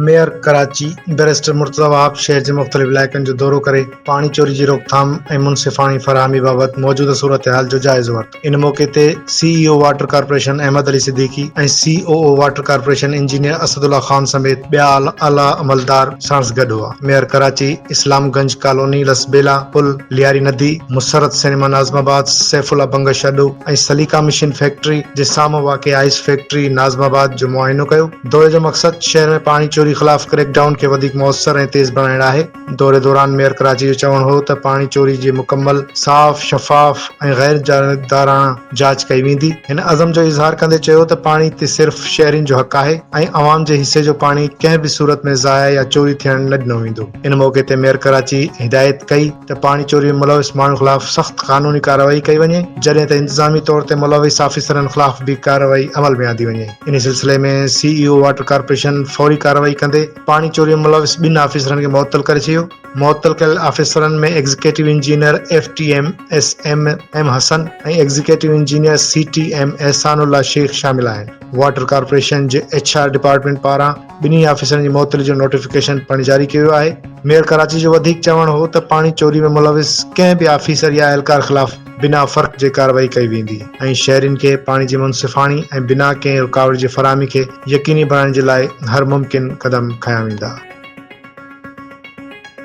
Mayor Karachi barrister Murtaza Wahab شهر جي مختلف علائقن جو دورو ڪري پاڻي چوري جي روڪٿام ۽ منصفاڻي فراهمي بابت موجوده صورتحال جو جائزو ورتو. ان موقعي تي C E O water corporation Ahmed Ali Siddiqui ۽ C O O water corporation engineer Asad Ullah Khan سميت ٻيا اعليٰ عملدار ساڻس گڏ هئا. ميئر ڪراچي اسلام گنج ڪالوني لسٻيلا پل، لياري ندي، مسرت سئنيما ناظم آباد، سيف الله بنگش اڏو ۽ سليڪا مشين فيڪٽري جي سامهون واقع آئس فيڪٽري ناظم آباد جو معائنو ڪيو. دوري جو مقصد شهر ۾ پاڻي چوري خلاف ڪريڪ ڊائون کي وڌيڪ موثر ۽ تيز بڻائڻ آهي. دوري دوران ميئر ڪراچي جو چوڻ هو ته پاڻي چوري جي مڪمل، صاف، شفاف ۽ غير جانبداراڻه جاچ ڪئي ويندي. هن عزم جو اظهار ڪندي چيو ته پاڻي تي صرف شهرين جو حق آهي ۽ عوام جي حصي جو پاڻي ڪنهن به صورت ۾ ضايع يا چوري ٿيڻ نه ڏنو ويندو. ان موقعي تي ميئر ڪراچي هدايت ڪئي ته پاڻي چوري ۾ ملوث ماڻهن خلاف سخت قانوني ڪارروائي ڪئي وڃي جڏهن ته انتظامي طور تي ملوث آفيسرن خلاف به ڪارروائي عمل ۾ آندي وڃي. انهي سلسلي ۾ C E O water corporation فوري ڪارروائي ڪندي پاڻي چوريء ۾ ملوث ٻن آفيسرن کي معطل ڪري ڇڏيو، معطل ڪيل آفيسرن ۾ executive engineer F T M S M M Hassan ۽ executive engineer C T M Ehsan Ullah Sheikh شامل آهن. واٽر ڪارپوريشن جي ايڇ آر ڊپارٽمينٽ پاران ٻنهي آفيسرن جي معطلي جو نوٽيفڪيشن پڻ جاري ڪيو ويو آهي. ميئر ڪراچي جو وڌيڪ چوڻ هو ته پاڻي چوري ۾ ملوث ڪنهن به آفيسر يا اهلڪار خلاف بنا فرق جي ڪارروائي ڪئي ويندي ۽ شهرين کي پاڻي جي منصفاڻي ۽ بنا ڪنهن رڪاوٽ جي فراهمي کي يقيني بڻائڻ جي لاء هر ممڪن قدم کنيا ويندا.